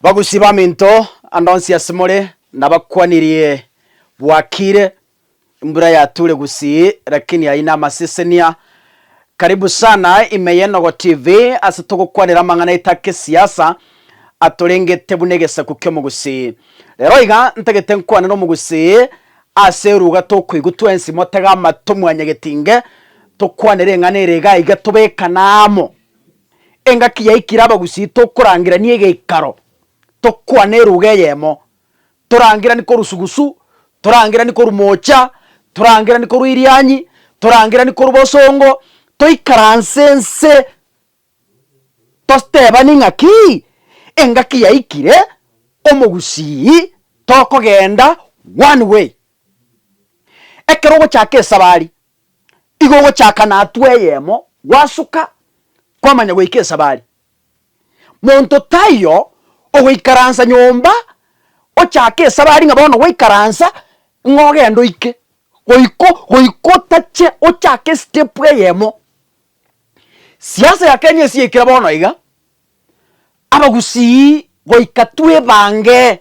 Bagusi baminto, ande onsi asemore nabakwanirie bwakire, embura yature gusii lakini ayio namasesenia. Karibu sana ime y'Enogo TV ase togokwanera amang'ana aitake esiasa atorengete buna egesaku ki'omogusii. Rero iga ntagete nkwane nomogusii ase eruga tokoigwa twensi motege amato mwanyegetinge tokwanere eng'ana ere iga iga tobekane amo. Engaki yaikire abagusii tokorangirania egeikaro, tokwane eruga eyemo, torangerani korwa sugusu, torangerani korwa moocha, torangerani korwa erianyi, torangerani korwa bosongo, toikaranse nse tosteebani ng'aki engaki yaikire omogusii tokogenda one way. Ekero ogochaka esabari Igo ogochaka na hatua eyemo gwasuka kwamanya goika esabari. Monto taiyo ogoikaransa nyomba ochake esabari ng'a bono gwaikaransa ng'a ogende oike. Goiko goika otache ochake step eyemo. Siasa ya Kenya ase yaikire bono iga, abagusii goika twa ebange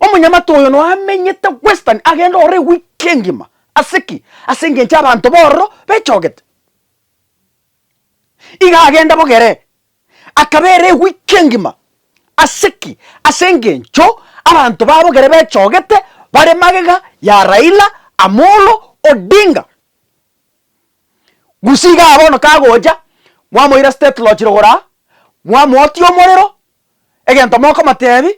Omonyamate oyo noamenyete Western agende ororo ewiki engima. Ase ki? Ase engencho abanto bororo bechogete. Iga agende bogere. Akaba ere ewiki engima. Ase ki? Ase engencho abanto ba bogere bechogete bare magega ya Raila Amolo Odinga. Gusii igaa bono kagocha, mwamoira State Lodge Rogoro aa, mwamoakia omorero, egento mokomotebi,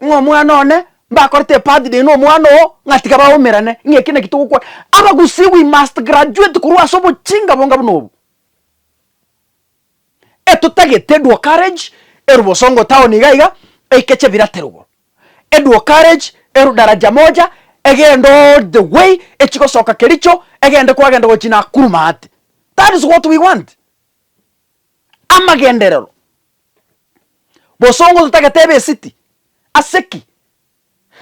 ng'a omwana one mbakorete ebirthday na omwana oo, ng'a tiga baumerane, ng'a eki naki togokwana. Abagusii we must graduate korwa ase obochinga bonga buna obo. Etotagete Edwo Garage eru Bosongo town iga iga, eikeche Birate rogoro, Edwo Garage eru Daraja Moja, egende all the way echigosoka Kericho, egende kwagenda gochia Nakuru maate. That is what we want. Amagenderero. Bosongo totagete ebesiti. Ase ki?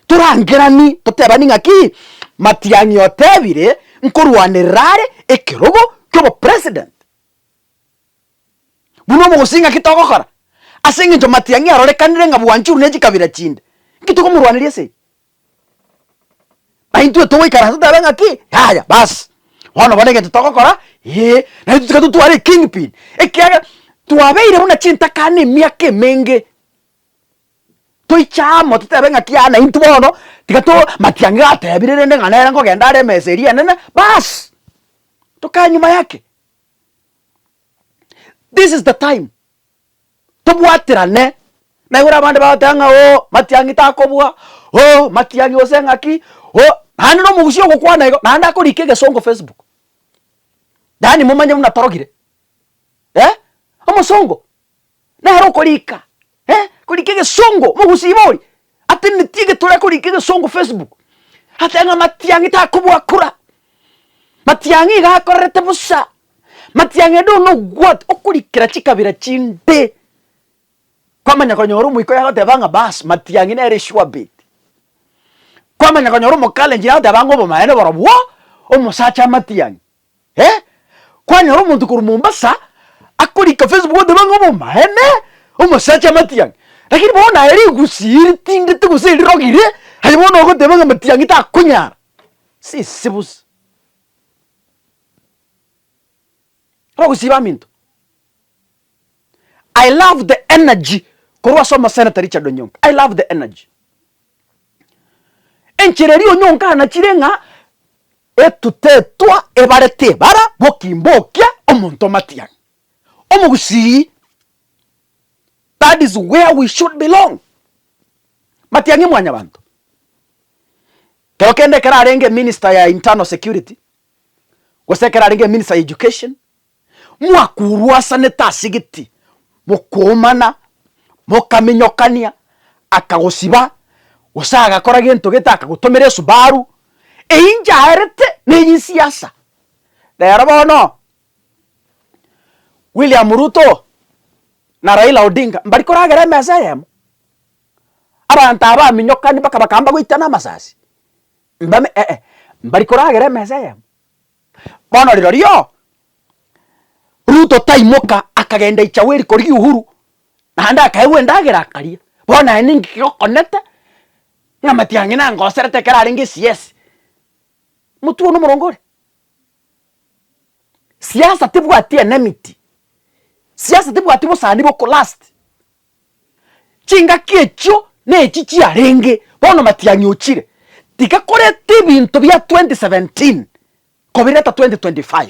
Torangerani totebani ng'aki, Matiang'i otebire nkorwanerera are ekerogo ki'obopresident. Buna omogosi ng'aki togokora? Ase engencho Matiang'i arorekanire ng'a bwanchuru ne chikabira chinde, nki tokomorwaneria ase eye? Aye intwe togoikaransa totabe ng'a ki? Yaya bas, bono bono egento togokora ee, naende totige totware eking pin ekiagera twabeire buna chintakana emiaka emenge, toiche amo totabe ng'a ki yaani intwe bono tiga to matiang'i gatebire rende ng'a nere nkogenda are emesa eria enene bas, tokae nyuma yake. This is the time. tobwaterane naigure abande bagoteba ng'a oo matiang'i takobua, oo matiang'i gose ng'aki, oo naende na omogusi ogokwana igo naende akorika egesongo facebook, yaani momanye buna torogire eh, omosongo nere okorika eh, korika egesongo, mogusi iga oria. Ateneti egetore akorika egesongo Facebook ateba ng'a Matiang'i takobua kura, Matiang'i iga akorerete bosa, Matiang'i ende one ogwati okorikera chikabira chinde. Kwamanya konyora omoika oye agoteba ng'a bas Matiang'i nere sure bet. Kwamanya konyora Omokalenjin agoteba ng'a obomaene borobwo omosacha Matiang'i. Eh, kwanyora omonto korwa Mombasa akorika Facebook oteba ng'a obomaene, omosacha matiang'i. Lakini bono naye rigusii riting'ite gose erirogi ri, aye bono ogoteba ng'a matiang'i takonyara. Sisi bosa. Abagusii baminto, I love the energy korwa ase Omoseneta Richard Onyonga, I love the energy. Enchera eria Onyonga anachire ng'a Etutetwa ebare tebara gokimbokia omonto omatiang, omogusii that is where we should belong matiang'i mwanyabanto kero kende ekero arenge minister ya internal security gose ekero arenge minister ya education mwakuruasanete ase gete, mokoomana, mokaminyokania, akagosiba, gose agakora gento gete akagotomera esubaru, eyinche aerete neyisiasa. Rero bono, William Ruto na Raila Odinga mbari koragera emesa eyemo, abanto aba baminyokani mpaka bakaba mbagoitana amasasi, mbame eh, mbari koragera emesa eyemo. Bono rirorio Ruto taimoka akagenda Ichaweri korigia Uhuru, naende akaegwa endagera akaria. Bono aye ninki kegokonete ng'a Matiang'i nangoserete ekero arenge eCS? Motwe one omorongo ore. Siasa tebwati enemity, siasa tebwati bosani bokolast, Chingaki echio nechi chiarenge bono Matiang'i ochire tiga koreta ebinto bia 2017 kobireta 2025.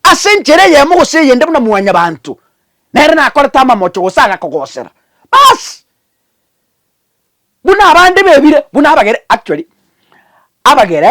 Ase enchera eyemo gose eyende buna mwanyabanto nere nakorete amamocho gose agakogosera basi buna abande bebire buna abagere actually abagere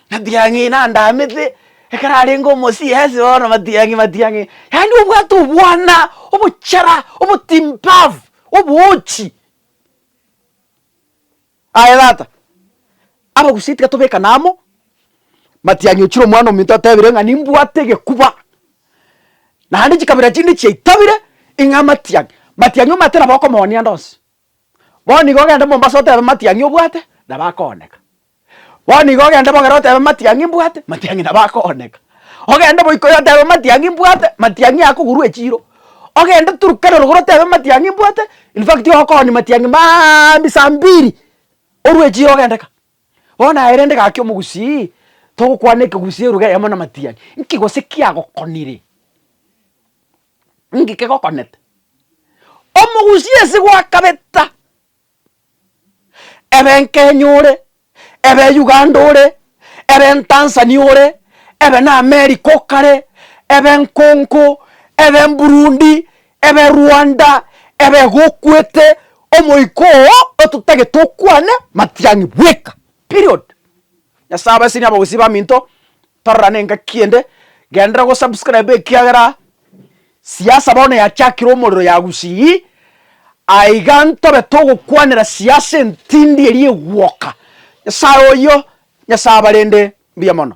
Matiang'i nandamete, ekero arenge omo-CS bono matiang'i matiang'i, yaani obwate obwana, obochara, obotimbaafu, oboochi. Aye tata, abagusia tiga tobekane amo, matiang'i ochire omwanominto otebire ng'a nimbwate egekuba, naende chikabira chinde chiaitabire, ing'a matiang'i, matiang'i omanyete nabo okomooni ande onsi. Bono iga ogende Mombasa otebe matiang'i obwate, nabo akooneka. Bono iga ogende Bogera otebe matiang'i mbwate, matiang'i nabo akooneka. Ogende Boikoyo otebe matiang'i mbwate, matiang'i akogurwa echiiro. Ogende Turkana rogoro otebe matiang'i mbwate, in fact okooni matiang'i maambia saa mbiri, orwe echiiro ogende ka. Bono aye rende gaki omogusii, togokwana ekegusii elugha eyemo na matiang'i, nki gose kiagokonire? nki kegokonete? Omogusi ase gwakabeta, ebe Nkenya ore, ebe Uganda ore, ebe Ntanzania ore, ebe na America o kare, ebe Nkonko, ebe Mburundi, ebe Rwanda, ebe gokwete, omoika oo ototagete okwane, matiang'i bweka. Period. Nyasaye abae senior abagusii baminto tororane engaki ende genderera go subscribe ekiagera siasa bono yachakire omorero ya gusii aiga ntobe togokwanera siasa entindi eria egwoka. Nyasaye oyio Nyasaye abarende mbuya mono.